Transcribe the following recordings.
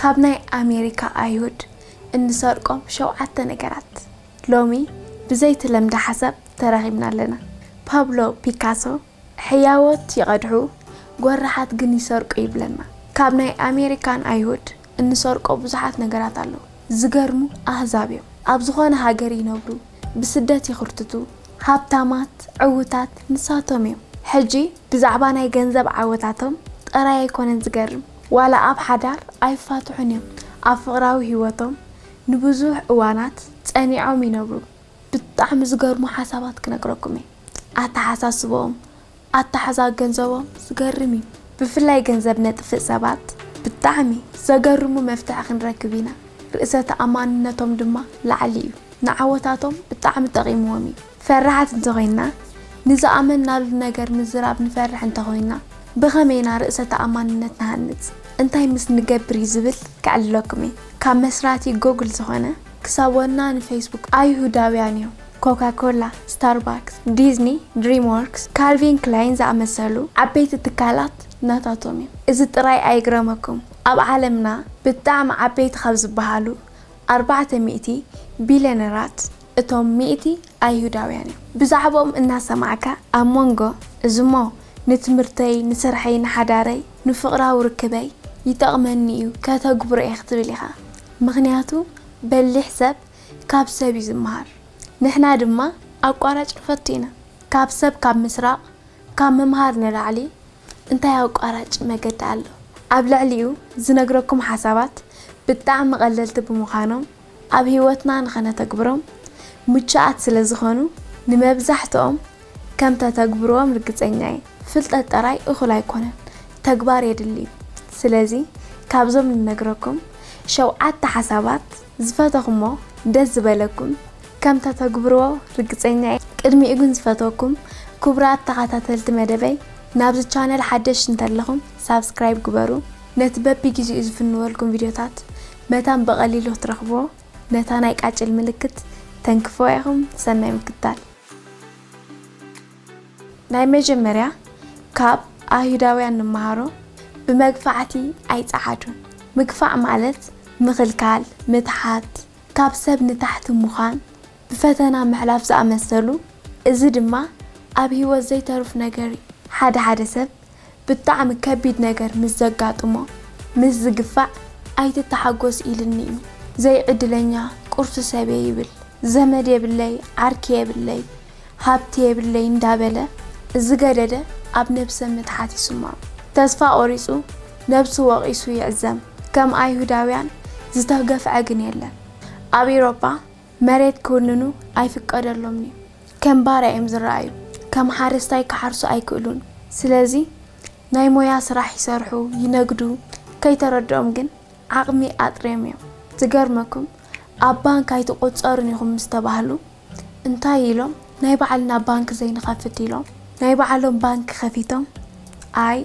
ካብ ናይ ኣሜሪካ ኣይሁድ እንሰርቆም ሸውዓተ ነገራት ሎሚ ብዘይትለምደ ሓሳብ ተራኺብና ኣለና። ፓብሎ ፒካሶ ሕያዎት ይቐድሑ ጎራሓት ግን ይሰርቁ ይብለና። ካብ ናይ ኣሜሪካን ኣይሁድ እንሰርቆ ብዙሓት ነገራት ኣለዉ። ዝገርሙ ኣህዛብ እዮም። ኣብ ዝኾነ ሃገር ይነብሩ ብስደት ይኽርትቱ ሃብታማት ዕውታት ንሳቶም እዮም። ሕጂ ብዛዕባ ናይ ገንዘብ ዓወታቶም ጥራይ ኣይኮነን ዝገርም፣ ዋላ ኣብ ሓዳር ኣይፋትሑን እዮም፣ ኣብ ፍቕራዊ ህይወቶም ንብዙሕ እዋናት ጸኒዖም ይነብሩ። ብጣዕሚ ዝገርሙ ሓሳባት ክነግረኩም እየ፣ ኣተሓሳስበኦም፣ ኣተሓዛ ገንዘቦም ዝገርም እዩ። ብፍላይ ገንዘብ ነጥፍእ ሰባት ብጣዕሚ ዘገርሙ መፍትሒ ክንረክብ ኢና፣ ርእሰ ተኣማንነቶም ድማ ላዕሊ እዩ፣ ንዓወታቶም ብጣዕሚ ጠቒምዎም እዩ። ፈራሓት እንተ ዄንና፣ ንዝኣመንናሉ ነገር ምዝራብ ንፈርሕ እንተ ዄንና፣ ብኸመይ ኢና ርእሰ ተኣማንነት ንሃንጽ? እንታይ ምስ ንገብር እዩ ዝብል ከዕልለኩም እየ። ካብ መስራቲ ጎግል ዝዀነ ክሳብ ወና ንፈይስቡክ ኣይሁዳውያን እዮም። ኮካ ኮላ፣ ስታርባክስ፣ ዲዝኒ፣ ድሪምዎርክስ፣ ካልቪን ክላይን ዝኣመሰሉ ዓበይቲ ትካላት ናታቶም እዩ። እዚ ጥራይ ኣይግረመኩም፣ ኣብ ዓለምና ብጣዕሚ ዓበይቲ ካብ ዝበሃሉ ኣርባዕተ ሚእቲ ቢልየነራት፣ እቶም ሚእቲ ኣይሁዳውያን እዮም። ብዛዕባኦም እናሰማዕካ ኣብ መንጎ እዚሞ ንትምህርተይ፣ ንስርሐይ፣ ንሓዳረይ፣ ንፍቕራዊ ርክበይ ይጠቕመኒ እዩ ከተግብሮ እየ ክትብል ኢኻ። ምኽንያቱ በሊሕ ሰብ ካብ ሰብ እዩ ዝመሃር። ንሕና ድማ ኣቋራጭ ንፈቱ ኢና። ካብ ሰብ ካብ ምስራቕ ካብ ምምሃር ንላዕሊ እንታይ ኣቋራጭ መገዲ ኣሎ? ኣብ ልዕሊኡ ዝነግረኩም ሓሳባት ብጣዕሚ ቀለልቲ ብምዃኖም፣ ኣብ ህይወትና ንኸነተግብሮም ምቹኣት ስለ ዝዀኑ፣ ንመብዛሕትኦም ከም እተተግብርዎም ርግጸኛ እየ። ፍልጠት ጥራይ እኹል ኣይኰነን፣ ተግባር የድሊ እዩ። ስለዚ፣ ካብዞም ንነግረኩም ሸውዓተ ሓሳባት ዝፈተኹሞ ደስ ዝበለኩም ከም እተተግብርዎ ርግጸኛ እየ። ቅድሚኡ ግን ዝፈትወኩም ክቡራት ተኻታተልቲ መደበይ፣ ናብዚ ቻነል ሓደሽቲ እንተለኹም ሳብስክራይብ ግበሩ፣ ነቲ በብጊዜኡ ዝፍንወልኩም ቪድዮታት መታን ብቀሊሉ ክትረኽብዎ ነታ ናይ ቃጭል ምልክት ተንክፍዋ ኢኹም ሰናይ ምክታል። ናይ መጀመርያ ካብ ኣይሁዳውያን ንመሃሮ ብመግፋዕቲ ኣይጸዓዱን ምግፋዕ ማለት ምኽልካል ምትሓት ካብ ሰብ ንታሕቲ ምዃን ብፈተና ምሕላፍ ዝኣመሰሉ እዚ ድማ ኣብ ሂወት ዘይተሩፍ ነገር እዩ ሓደ ሓደ ሰብ ብጣዕሚ ከቢድ ነገር ምስ ዘጋጥሞ ምስ ዝግፋዕ ኣይትተሓጎስ ኢልኒ እዩ ዘይ ዕድለኛ ቁርሲ ሰብየ ይብል ዘመድ የብለይ ዓርኪ የብለይ ሃብቲ የብለይ እንዳበለ ዝገደደ ኣብ ነብሰ ምትሓት ይስምዖ ተስፋ ቆሪጹ ነብሱ ወቂሱ ይዕዘም ከም ኣይሁዳውያን ዝተገፍዐ ግን የለን ኣብ ኢሮጳ መሬት ክውንኑ ኣይፍቀደሎምን'ዩ። ከም ባርያ እዮም ዝረኣዩ። ከም ሓረስታይ ክሓርሱ ኣይክእሉን። ስለዚ ናይ ሞያ ስራሕ ይሰርሑ፣ ይነግዱ፣ ከይተረድኦም ግን ዓቕሚ ኣጥርዮም እዮም። ዝገርመኩም ኣብ ባንክ ኣይትቑጸሩን ኢኹም ምስ ተባህሉ እንታይ ኢሎም ናይ ባዕልና ባንክ ዘይንኸፍት ኢሎም ናይ ባዕሎም ባንክ ከፊቶም ኣይ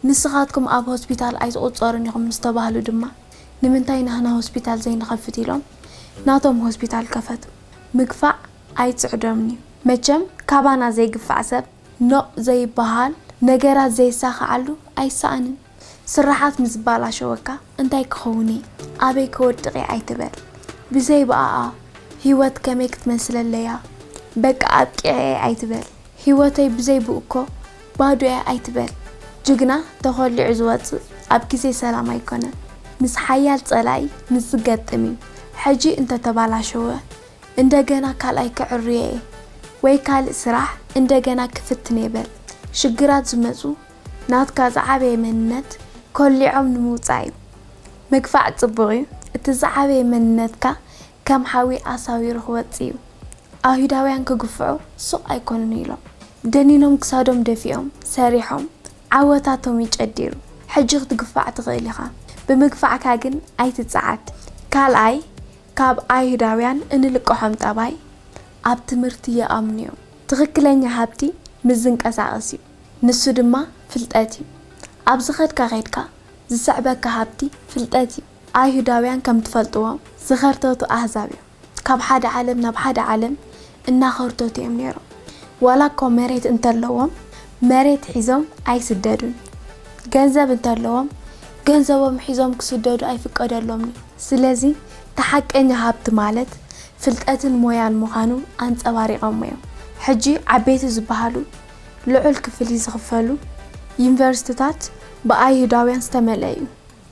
ንስኻትኩም ኣብ ሆስፒታል ኣይትቑፀሩን ኢኹም ምስ ተባህሉ ድማ ንምንታይ ናህና ሆስፒታል ዘይንኸፍት ኢሎም ናቶም ሆስፒታል ከፈቱ። ምግፋዕ ኣይፅዕዶምን እዩ። መቸም ካባና ዘይግፋዕ ሰብ ኖእ ዘይባሃል ነገራት ዘይሳኸዓሉ ኣይሳኣንን። ስራሓት ምስዝባላሸወካ እንታይ ክኸውን እየ ኣበይ ክወድቕ እየ ኣይትበል። ብዘይ ብኣኣ ሂወት ከመይ ክትመስለለይ እያ በቃ ኣብቂዐ እየ ኣይትበል። ሂወተይ ብዘይ ብእኮ ባዶ እያ ኣይትበል ጅግና ተኾሊዑ ዝወጽእ ኣብ ግዜ ሰላም ኣይኮነን ምስ ሓያል ጸላኢ ምስ ዝገጥም እዩ ሕጂ እንተ ተባላሸወ እንደገና ካልኣይ ክዕርዮ እየ ወይ ካልእ ስራሕ እንደገና ክፍትን እየ በል ሽግራት ዝመጹ ናትካ ዝዓበየ መንነት ኮሊዖም ንምውጻእ እዩ ምግፋዕ ጽቡቅ እዩ እቲ ዝዓበየ መንነትካ ከም ሓዊ ኣሳዊሩ ክወጽእ እዩ። ኣይሁዳውያን ክግፍዑ ሱቕ ኣይኮኑን ኢሎም ደኒኖም ክሳዶም ደፊኦም ሰሪሖም ዓወታቶም እዩ ጨዲሩ። ሕጂ ክትግፋዕ ትኽእል ኢኻ ብምግፋዕካ ግን ኣይትጸዓድ። ካልኣይ ካብ ኣይሁዳውያን እንልቀሖም ጠባይ ኣብ ትምህርቲ ይኣምኑ እዮም። ትኽክለኛ ሃብቲ ምስ ዝንቀሳቐስ እዩ። ንሱ ድማ ፍልጠት እዩ። ኣብ ዝኸድካ ከድካ ዝስዕበካ ሃብቲ ፍልጠት እዩ። ኣይሁዳውያን ከም ትፈልጥዎ ዝኸርተቱ ኣህዛብ እዮም። ካብ ሓደ ዓለም ናብ ሓደ ዓለም እናኸርተቱ እዮም ነይሮም። ዋላ እኮ መሬት እንተለዎም መሬት ሒዞም ኣይስደዱን። ገንዘብ እንተለዎም ገንዘቦም ሒዞም ክስደዱ ኣይፍቀደሎምን እዩ። ስለዚ እቲ ሓቀኛ ሃብቲ ማለት ፍልጠትን ሞያን ምዃኑ ኣንጸባሪቐሞ እዮም። ሕጂ ዓበይቲ ዝበሃሉ ልዑል ክፍሊት ዝኽፈሉ ዩኒቨርሲቲታት ብኣይሁዳውያን ዝተመልአ እዩ።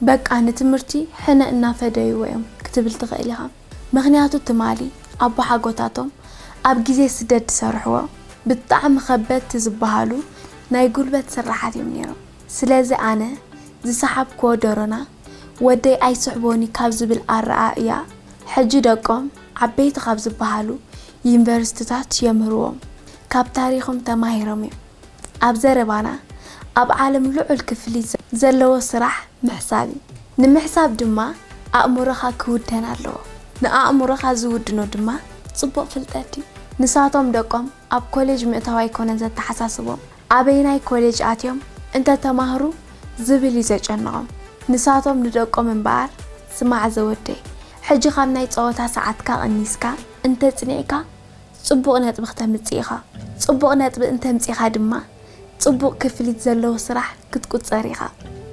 በቃ ንትምህርቲ ሕነ እናፈደይዎ እዮም ክትብል ትኽእል ኢኻ። ምኽንያቱ ትማሊ ኣቦሓጎታቶም ኣብ ግዜ ስደት ዝሰርሕዎ ብጣዕሚ ከበድቲ ዝበሃሉ ናይ ጉልበት ስርሓት እዮም ነይሮም። ስለዚ ኣነ ዝሰሓብክዎ ደሮና ወደይ ኣይስሕቦን'ዩ ካብ ዝብል ኣረኣእያ ሕጂ ደቆም ዓበይቲ ካብ ዝበሃሉ ዩኒቨርሲቲታት የምህርዎም። ካብ ታሪኽም ተማሂሮም እዮም። ኣብ ዘረባና ኣብ ዓለም ልዑል ክፍሊት ዘለዎ ስራሕ ምሕሳብ እዩ። ንምሕሳብ ድማ ኣእምሮኻ ክውደን ኣለዎ። ንኣእምሮኻ ዝውድኖ ድማ ጽቡቕ ፍልጠት እዩ። ንሳቶም ደቆም ኣብ ኮሌጅ ምእታው ኣይኮነን ዘተሓሳስቦም፣ ኣበይናይ ኮሌጅ ኣትዮም እንተተማህሩ ዝብል እዩ ዘጨንቖም። ንሳቶም ንደቆም እምበኣር ስማዕ ዘወደይ ሕጂ ካብ ናይ ጸወታ ሰዓትካ ቀኒስካ እንተጽኒዕካ ጽቡቕ ነጥቢ ክተምጽእ ኢኻ። ጽቡቕ ነጥቢ እንተምጺኻ ድማ ጽቡቕ ክፍሊት ዘለዎ ስራሕ ክትቁጸር ኢኻ።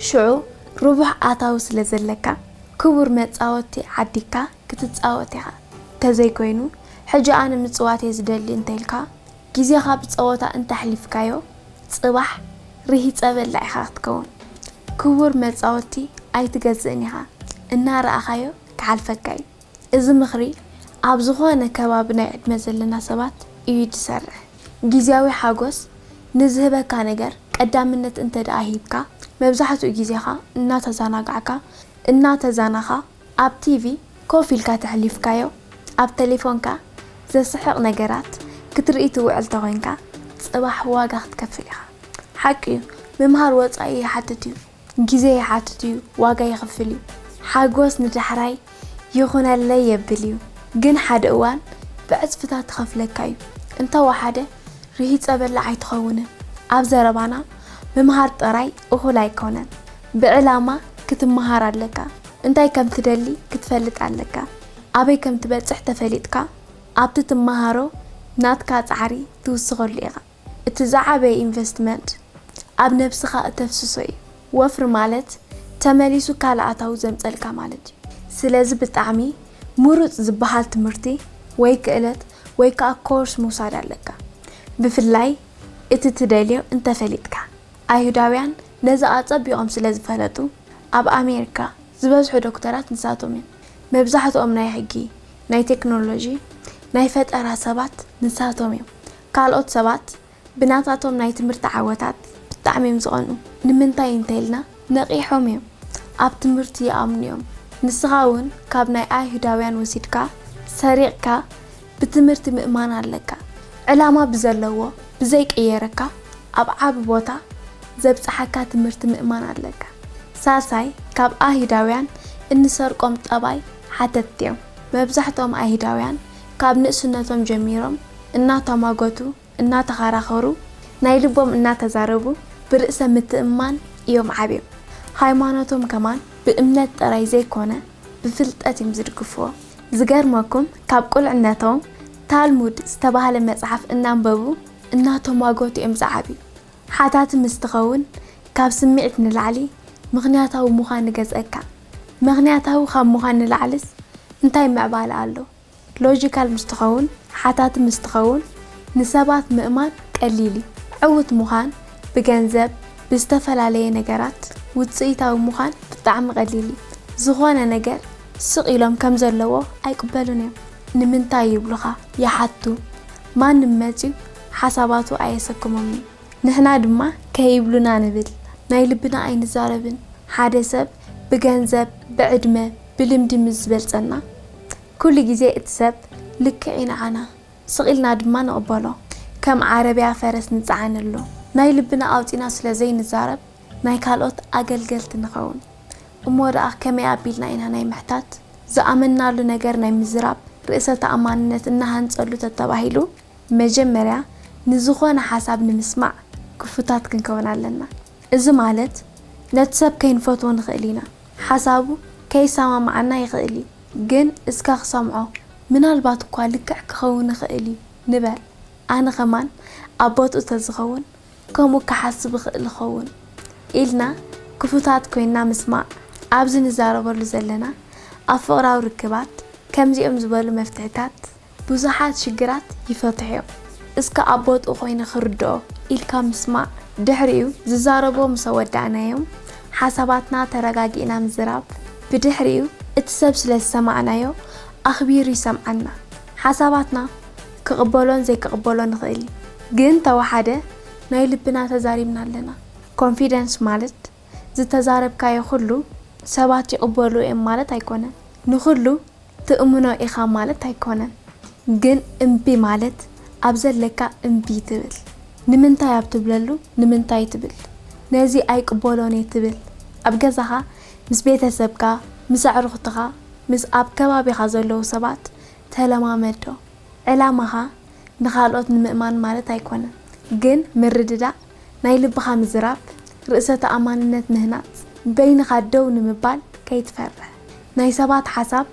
ሽዑ ርቡሕ ኣታዊ ስለ ዘለካ ክቡር መጻወቲ ዓዲግካ ክትጻወት ኢኻ። ተዘይኮይኑ ሕጂ ኣነ ምጽዋት'የ ዝደሊ እንተኢልካ ግዜኻ ብጸወታ እንተኣሕሊፍካዮ ጽባሕ ርሂጸ በላዕ ኢኻ ክትከውን። ክቡር መጻወቲ ኣይትገዝእን ኢኻ። እናረኣኻዮ ክሓልፈካ'ዩ። እዚ ምኽሪ ኣብ ዝኾነ ከባቢ ናይ ዕድመ ዘለና ሰባት እዩ ዝሰርሕ። ግዝያዊ ሓጎስ ንዝህበካ ነገር ቀዳምነት እንተድኣ ሂብካ፣ መብዛሕትኡ ግዜኻ እናተዘናጋዕካ፣ እናተዘናኻ፣ ኣብ ቲቪ ኮፍ ኢልካ ተሕሊፍካዮ፣ ኣብ ተሌፎንካ ዘስሕቕ ነገራት ክትርኢ ትውዕል ተኾይንካ፣ ጽባሕ ዋጋ ክትከፍል ኢኻ። ሓቂ'ዩ፣ ምምሃር ወጻኢ ይሓትት'ዩ። ግዜ ይሓትት እዩ ዋጋ የኽፍል እዩ ሓጎስ ንዳሕራይ ይኹነለይ የብል እዩ ግን ሓደ እዋን ብዕጽፍታት ትኸፍለካ እዩ እንተ ወሓደ ርሂጸ በላዕ ኣይትኸውንን ኣብ ዘረባና ምምሃር ጥራይ እኹል ኣይኮነን ብዕላማ ክትመሃር ኣለካ እንታይ ከም ትደሊ ክትፈልጥ ኣለካ ኣበይ ከም ትበጽሕ ተፈሊጥካ ኣብቲ ትመሃሮ ናትካ ጻዕሪ ትውስኸሉ ኢኻ። እቲ ዝዓበየ ኢንቨስትመንት ኣብ ነብስኻ እተፍስሶ እዩ። ወፍሪ ማለት ተመሊሱ ካልእ ኣታዊ ዘምጸልካ ማለት እዩ። ስለዚ ብጣዕሚ ምሩጽ ዝበሃል ትምህርቲ ወይ ክእለት ወይ ከኣ ኮርስ ምውሳድ ኣለካ። ብፍላይ እቲ ትደልዮ እንተፈሊጥካ። ኣይሁዳውያን ነዚ ኣጸቢቖም ስለ ዝፈለጡ ኣብ ኣሜሪካ ዝበዝሑ ዶክተራት ንሳቶም እዮም። መብዛሕትኦም ናይ ሕጊ፣ ናይ ቴክኖሎጂ፣ ናይ ፈጠራ ሰባት ንሳቶም እዮም። ካልኦት ሰባት ብናታቶም ናይ ትምህርቲ ዓወታት ብጣዕሚ እዮም ዝቐንኡ። ንምንታይ እንተኢልና ነቒሖም እዮም፣ ኣብ ትምህርቲ ይኣምኑ እዮም። ንስኻ እውን ካብ ናይ ኣይሁዳውያን ወሲድካ ሰሪቕካ ብትምህርቲ ምእማን ኣለካ። ዕላማ ብዘለዎ ብዘይቅየረካ ኣብ ዓቢ ቦታ ዘብጽሓካ ትምህርቲ ምእማን ኣለካ። ሳልሳይ ካብ ኣይሁዳውያን እንሰርቆም ጠባይ ሓተትቲ እዮም። መብዛሕትኦም ኣይሁዳውያን ካብ ንእስነቶም ጀሚሮም እናተሟገቱ፣ እናተኸራኸሩ፣ ናይ ልቦም እናተዛረቡ ብርእሰ ምትእምማን እዮም ዓብዮም። ሃይማኖቶም ከማን ብእምነት ጥራይ ዘይኮነ ብፍልጠት እዮም ዝድግፍዎ። ዝገርመኩም ካብ ቁልዕነቶም ታልሙድ ዝተባህለ መጽሓፍ እናንበቡ እናተሟገቱ እዮም ዝዓብዩ። ሓታቲ ምስ ትኸውን ካብ ስምዒት ንላዕሊ ምኽንያታዊ ምዃን እገዝኣካ። መኽንያታዊ ካብ ምዃን ንላዕልስ እንታይ ምዕባለ ኣሎ? ሎጂካል ምስ ትኸውን፣ ሓታቲ ምስ ትኸውን ንሰባት ምእማን ቀሊል እዩ። ዕውት ምዃን፣ ብገንዘብ፣ ብዝተፈላለየ ነገራት ውጽኢታዊ ምዃን ብጣዕሚ ቀሊል እዩ። ዝኾነ ነገር ስቕ ኢሎም ከም ዘለዎ ኣይቅበሉን እዮም። ንምንታይ ይብሉኻ፣ ይሓቱ። ማንም መጺኡ። ሓሳባቱ ኣየሰክሞምን ንሕና ድማ ከይብሉና ንብል ናይ ልብና ኣይንዛረብን ሓደ ሰብ ብገንዘብ ብዕድመ ብልምዲ ምስ ዝበልጸና ኩሉ ግዜ እቲ ሰብ ልክዕ'ዩ ንዓና ስቕ ኢልና ድማ ንቕበሎ ከም ዓረብያ ፈረስ ንጸዓነሉ ናይ ልብና ኣውጺና ስለ ዘይንዛረብ ናይ ካልኦት ኣገልገልቲ ንኸውን እሞ ደኣ ከመይ ኣቢልና ኢና ናይ ምሕታት ዝኣመንናሉ ነገር ናይ ምዝራብ ርእሰ ተኣማንነት እናሃንጸሉ ተተባሂሉ መጀመርያ ንዝኾነ ሓሳብ ንምስማዕ ክፉታት ክንከውን ኣለና። እዚ ማለት ነቲ ሰብ ከይንፈትዎ ንኽእል ኢና፣ ሓሳቡ ከይሰማምዓና ይኽእል እዩ፣ ግን እስከ ክሰምዖ ምናልባት እኳ ልክዕ ክኸውን ይኽእል እዩ ንበል። ኣነ ከማን ኣብ ቦትኡ ተዝኸውን ከምኡ ክሓስብ እኽእል እኸውን ኢልና ክፉታት ኮይንና ምስማዕ ኣብዚ ንዛረበሉ ዘለና ኣብ ፍቕራዊ ርክባት ከምዚኦም ዝበሉ መፍትሕታት ብዙሓት ሽግራት ይፈትሑ እዮም እስከ ኣብ ቦትኡ ኮይነ ክርድኦ ኢልካ ምስማዕ ድሕሪኡ ዝዛረብዎ ምሰ ወዳእናዮም ሓሳባትና ተረጋጊእና ምዝራብ ብድሕሪኡ እቲ ሰብ ስለ ዝሰማዕናዮ ኣኽቢሩ ይሰምዓና ሓሳባትና ክቕበሎን ዘይክቕበሎን ይኽእል እዩ ግን ተወሓደ ናይ ልብና ተዛሪብና ኣለና ኮንፊደንስ ማለት ዝተዛረብካዮ ኩሉ ሰባት ይቕበልዎ እዮም ማለት ኣይኮነን ንኹሉ ትእምኖ ኢኻ ማለት ኣይኮነን ግን እምቢ ማለት ኣብ ዘለካ እምቢ ትብል ንምንታይ ኣብ ትብለሉ ንምንታይ ትብል ነዚ ኣይቅበሎን እየ ትብል ኣብ ገዛኻ ምስ ቤተሰብካ ምስ ኣዕሩኽትኻ ምስ ኣብ ከባቢኻ ዘለዉ ሰባት ተለማመዶ ዕላማኻ ንኻልኦት ንምእማን ማለት ኣይኮነን ግን ምርድዳእ ናይ ልብኻ ምዝራብ፣ ርእሰ ተኣማንነት ምህናጽ፣ በይንኻ ደው ንምባል ከይትፈርሕ፣ ናይ ሰባት ሓሳብ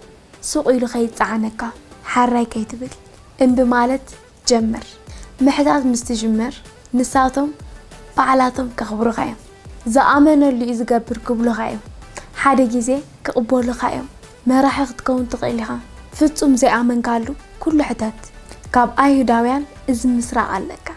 ሱቕ ኢሉ ከይጸዓነካ ሓራይ ከይትብል እምቢ ማለት ጀምር። ምሕታት ምስ ትጅምር ንሳቶም ባዕላቶም ከኽብሩኻ እዮም። ዝኣመነሉ እዩ ዝገብር ክብሉኻ እዮም። ሓደ ግዜ ክቕበሉኻ እዮም። መራሒ ክትከውን ትኽእል ኢኻ። ፍጹም ዘይኣመንካሉ ኩሉ ሕተት። ካብ ኣይሁዳውያን እዚ ምስራቕ ኣለካ።